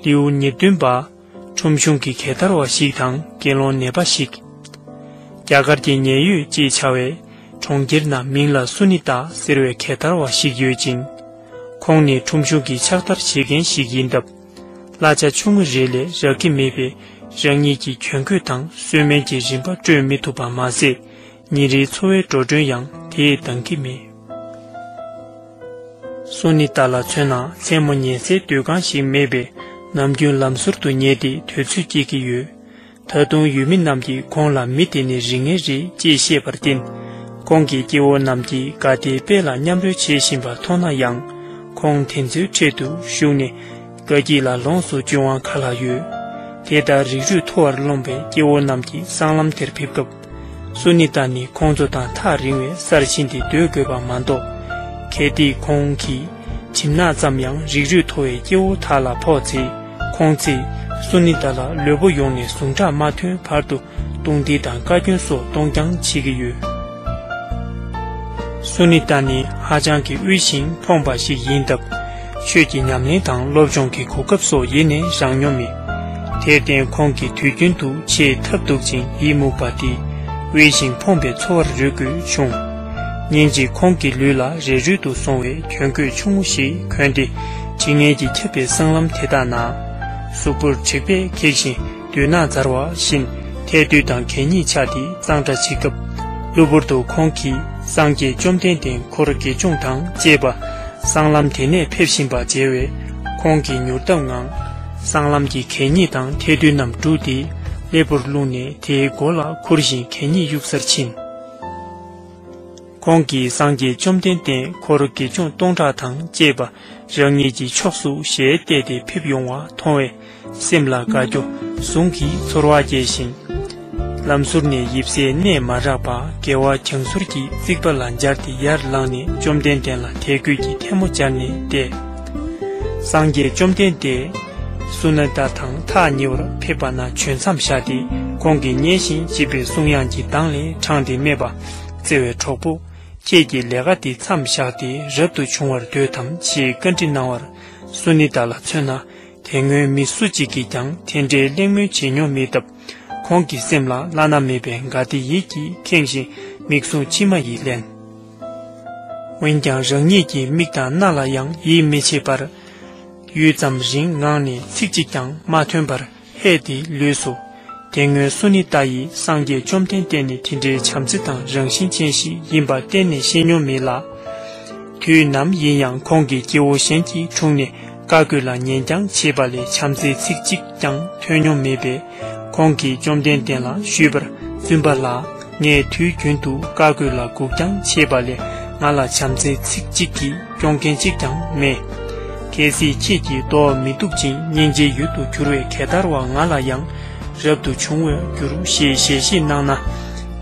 ལེའུ་ཉེར་བདུན་པ། ཁྲོམ་གཞུང་གི་གད་དར་བ་ཞིག་དང་དགེ་སློང་ནད་པ་ཞིག། རྒྱ་གར་གྱི་ཉེན་ཡོད་ཅེས་བྱ་བའི་གྲོང་ཁྱེར་ན་མིང་ལ་སུ་ནི་ཏཱ་ཟེར་བའི་གད་དར་བ་ཞིག་ཡོད་ཅིང། ཁོང་ནི་ཁྲོམ་གཞུང་གི་ཕྱག་བདར་བྱེད་མཁན་ཞིག་ཡིན་སྟབས། གླ་ཆ་ཆུང་ངུ་རེ་ལས་རག་གི་མེད་པས་རང་ཉིད་ཀྱི་གྱོན་གོས་དང་གསོལ་སྨན་གྱི་རིན་པ་སྤྲོད་མི་ཐུབ་པ་མ་ཟད་ཉིན་རེའི་འཚོ་བའི་འགྲོ་གྲོན་ཡང་དེས་འདང་གི་མེད། སོ་ནི་ཏཱ་ལ་མཚོན་ན་མཚན་མོ་ཉལ་སའི་སྡོད་ཁང་ཞིག་མེད་པས་ནམ་རྒྱུན་ལམ་ཟུར་དུ་ཉལ་ཏེ་དུས་ཚོད་སྐྱེལ་གྱི་ཡོད། ད་དུང་ཡུལ་མི་རྣམས་ཀྱིས་ཁོང་ལ་མི་དེ་ནི་རིགས་ངན་རེད་ཅེས་བཤད་པར་བརྟེན། ཁོང་གི་སྐྱེ་བོ་རྣམས་ཀྱིས་དགའ་བདེའི་དཔལ་ལ་མཉམ་རོལ་བྱེད་བཞིན་པ་མཐོང་ན་ཡང། ཁོང་དེ་ཚོའི་ཁྲོད་དུ་ཞུགས་ནས། དགའ་སྐྱིད་ལ་ལོངས་སུ་སྤྱོད་དབང་ག་ལ་ཡོད། དེ་ལྟར་རིགས་རུས་མཐོ་བར་རློམ་པའི་སྐྱེ་བོ་རྣམས་ཀྱིས་སྲང་ལམ་དེར་ཕེབས་སྐབས། སུ་ནི་ད་ནི་ཁོང་ཚོ་དང་ཐག་རིང་བའི་སར་ཕྱིན་ཏེ་སྡོད་དགོས་པ་མ་གཏོགས། གལ་ཏེ་ཁོང་གིས་བྱིན་ནག་ཙམ་ཡང་རིགས་རུས་མཐོ་བའི་སྐྱེ་བོ་དག་ལ་ཕོག་ཚེ། ཁོང་ཚེས་སུ་ནི་ད་ལ་ལུས་པོ་ཡོངས་ནས་ཟུངས་ཁྲག་མ་ཐོན་བར་དུ་བཏུང་སྟེ་དང་བཀའ་བཀྱོན་སོགས་གཏོང་རྐྱང་བྱེད་ཀྱི་ཡོད། སུ་ནི་ད་ནི་ཧ་ཅང་གི་དབུལ་ཞིང་ཕོངས་པ་ཞིག་ཡིན་སྟབས། ཆོས་ཀྱི་ཉམས་ལེན་དང་སློབ་སྦྱོང་གི་གོ་སྐབས་སོགས་ཡེ་ནས་བཞག་མྱོང་མེད། དེར་བརྟེན་ཁོང་གིས་དུས་རྒྱུན་དུ་ཆེས་ཐབས་སྡུག་ཅིང་ཡིད་མུག་པ་དེ་དབེན་ཞིང་ཕོངས་པའི་འཚོ་བར་རོལ་དགོས་བྱུང། ཉིན་ཅིག་ཁོང་གི་ལུས་ལ་རས་རུལ་དུ་སོང་བའི་གྱོན་གོས་ཆུང་ངུ་ཞིག་གྱོན་ཏེ་དྲི་ངན་གྱིས་ཁྱབ་པའི་སྲང་ལམ་དེ་དག་ན། གཟུགས་པོར་དྲེག་པས་ཁེགས་ཤིང། བདུད་ནག་འཛར་བ་བཞིན་ཐལ་རྡུལ་དང་གད་སྙིགས་ཆགས་ཏེ་གཙང་སྦྲ་བྱེད་སྐབས། གློ་བུར་དུ་ཁོང་གིས་སངས་རྒྱས་བཅོམ་ལྡན་འདས་འཁོར་དགེ་སྦྱོང་དང་བཅས་པ་སྲང་ལམ་དེ་ནས་ཕེབས་བཞིན་པ་མཇལ་བས། ཁོང་གིས་མྱུར་སྟབས་ངང། སྲང་ལམ་གྱི་གད་སྙིགས་དང་ཐལ་རྡུལ་རྣམས་བསྒྲུགས་ཏེ་ལེགས་པོར་བླུགས་ནས་དེའི་མགོ་ལ་ཁུར་བཞིན་གད་སྙིགས་གཡུག་སར་ཕྱིན། ཁོང་གིས་སངས་རྒྱས་བཅོམ་ལྡན་འདས་འཁོར་དགེ་སྦྱོང་སྟོང་ཕྲག་དང་བཅས་པ་རང་ཉིད་ཀྱི་ཕྱོགས་སུ་ཞལ་བལྟས་ཏེ་ཕེབས་ཡོང་བ་མཐོང་བས། སེམས་ལ་དགའ་སྐྱོ་ཟུང་གིས་ཚོར་བ་སྐྱེས་ཤིང། ལམ་ཟུར་ནས་ཡིབ་སའི་གནས་མ་རག་པར་དགེ་བ་བྱང་ཟུར་གྱི་རྩིག་པ་ལ་འབྱར་ཏེ་ཡར་ལངས་ནས་བཅོམ་ལྡན་འདས་ལ་དད་གུས་ཀྱི་ཐལ་མོ་སྦྱར་ནས་བལྟས། སངས་རྒྱས་བཅོམ་ལྡན་འདས། སུ་ན་ད་དང་ཐག་ཉེ་བར་ཕེབས་པ་ན་བྱོན་མཚམས་བཞག་སྟེ་ཁོང་གིས་མཉེས་ཤིང་བརྗིད་པའི་གསུང་དབྱངས་ཀྱི་གདངས་ལས་དྲངས་ཏེ་སྨྲས་པ། བརྩེ་བའི་གྲོགས་པོ། ཁྱེད་ཀྱིས་ལས་ཀ་འདི་མཚམས་བཞག་སྟེ་རབ་ཏུ་བྱུང་བར་འདོད་དམ་ཞེས་བཀའ་འདྲི་གནང་བར། སུ་ནི་ད་ལ་མཚོན་ན། དེ་སྔོན་མི་སུ་གཅིག་གིས་ཀྱང་དེ་འདྲའི་གླེང་མོལ་བྱེད་མྱོང་མེད་སྟབས། ཁོང་གི་སེམས་ལ་བླ་ན་མེད་པའི་དགའ་བདེ་ཡིད་ཀྱིས་ཁེངས་བཞིན་མིག་ཟུང་མཆི་མ་ཡིས་བརླན། འོན་ཀྱང་རང་ཉིད་ཀྱི་མིག་དང་སྣ་ལ་ཡང་ཡིད་མི་ཆེས་པར། ཡུད་ཙམ་རིང་ངང་ནས་ཚིག་གཅིག་ཀྱང་མ་ཐོན་པར་ཧད་དེ་ལུས་སུ། དེ་སྔོན་སུ་ནི་ཏཱ་ཡིས་སངས་རྒྱས་བཅོམ་ལྡན་འདས་ནི་དེ་འདྲའི་བྱམས་བརྩེ་དང་རང་བཞིན་ཅན་ཞིག་ཡིན་པ་གཏན་ནས་ཤེས་མྱོང་མེད་ལ། དུས་ནམ་ཡིན་ཡང་ཁོང་གིས་སྐྱེ་བོ་གཞན་གྱི་དྲུང་ནས་བཀའ་བཀོད་ལ་ཉན་རྐྱང་བྱེད་པ་ལས་བྱམས་བརྩེའི་ཚིག་གཅིག་ཀྱང་ཐོས་མྱོང་མེད་པས་ཁོང་གིས་བཅོམ་ལྡན་འདས་ལ་ཞུས་པར་བཙུན་པ་ལགས། ངས་དུས་རྒྱུན་དུ་བཀའ་བསྒོས་ལ་སྒུག་རྐྱང་བྱེད་པ་ལས་ང་ལ་བྱམས་བརྩེའི་ཚིག་གཅིག་གིས་སྐྱོང་མཁན་གཅིག་ཀྱང་མེད། གལ་སྲིད་ཁྱེད་ཀྱིས་བཟློག་མི་ཐུབ་ཅིང་སྙིང་རྗེའི་ཡུལ་དུ་གྱུར་བའི་གད་དར་བ་ང་ལ་ཡང་རབ་ཏུ་བྱུང་བས་འགྱུར་ཞེས་ཞལ་བཞེས་གནང་ན།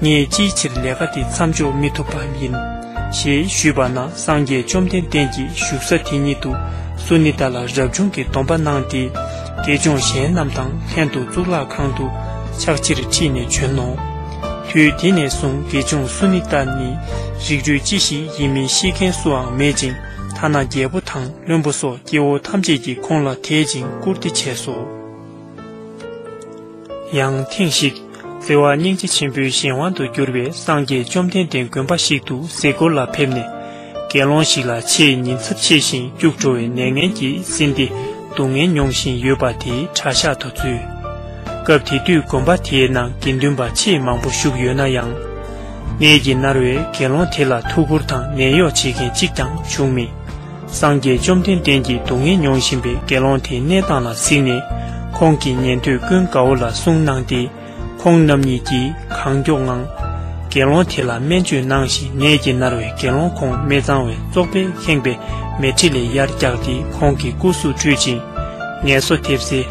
ངས་ཅིའི་ཕྱིར་ལས་ཀ་འདི་མཚམས་འཇོག་མི་ཐུབ་པ་ཡིན། ཞེས་ཞུས་པ་ན་སངས་རྒྱས་བཅོམ་ལྡན་འདས་ཀྱིས་བཞུགས་ས་དེ་ཉིད་དུ་སུ་ནི་ད་ལ་རབ་བྱུང་གི་སྡོམ་པ་གནང་སྟེ། དགེ་སྦྱོང་གཞན་རྣམས་དང་ལྷན་དུ་གཙུག་ལག་ཁང་དུ་ཕྱག་ཕྱིར་ཁྲིད་ནས་བྱོན་ནོ། དུས་དེ་ནས་བཟུང་དགེ་སྦྱོང་སུ་ནི་ད་ནི་རིགས་རུས་ཅི་ཞིག་ཡིན་མིན་ཤེས་མཁན་སུའང་མེད་ཅིང་ཐ་ན་རྒྱལ་པོ་དང་བློན་པོ་སོགས་སྐྱེ་བོ་ཐམས་ཅད་ཀྱིས་ཁོང་ལ་དད་ཅིང་བཀུར་སྟི་བྱས་སོ། ཡང་ཐེངས་ཤིག་བརྩེ་བ་སྙིང་རྗེ་ཆེན་པོའི་གཞན་དབང་དུ་གྱུར་པའི་སངས་རྒྱས་བཅོམ་ལྡན་འདས་དགོན་པ་ཞིག་ཏུ་ཟས་སྐོར་ལ་ཕེབས་ནས་དགེ་སློང་ཞིག་ལ་ཆེས་ཉིན་ཚབས་ཆེ་ཞིང་སྐྱུག་བྲོ་བའི་ནད་ངན་གྱིས་བསྲིངས་ཏེ་སྡུག་བསྔལ་མྱོང་བཞིན་ཡོད་པ་དེའི་གྲྭ་ཤག་ཏུ་འཛུལ། སྐབས་དེ་དུས་དགོན་པ་དེའི་ནང་དགེ་འདུན་པ་ཆེས་མང་པོ་བཞུགས་ཡོད་ན་ཡང། ནད་ཀྱིས་མནར་བའི་དགེ་སློང་དེ་ལ་ཐུགས་ཁུར་དང་ནད་གཡོག་བྱེད་མཁན་གཅིག་ཀྱང་བྱུང་མེད། སངས་རྒྱས་བཅོམ་ལྡན་འདས་ཀྱིས་སྡུག་བསྔལ་མྱོང་བཞིན་པའི་དགེ་སློང་དེའི་གནས་སྟངས་ལ་གཟིགས་ནས། ཁོང་གིས་ཉན་ཐོས་ཀུན་དགའ་བོ་ལ་གསུང་གནང་སྟེ། ཁོང་རྣམ་གཉིས་ཀྱིས་གང་མགྱོགས་ངང། དགེ་སློང་དེ་ལ་སྨན་བཅོས་གནང་ཞིང་ནད་ཀྱིས་མནར་བའི་དགེ་སློང་ཁོང་སྨེ་གཙང་བའི་བཙོག་པས་ཁེངས་པའི་མལ་ཁྲི་ལས་ཡར་བཀྱགས་ཏེ་ཁོང་གི་སྐུ་གཟུགས་བཀྲུས་ཅིང། ངལ་གསོ་ཐེབས་སའི་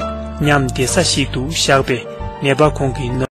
ཉམས་བདེ་ས་ཞིག་ཏུ་བཞག་པས་ནད་པ་ཁོང་གི་ནོར།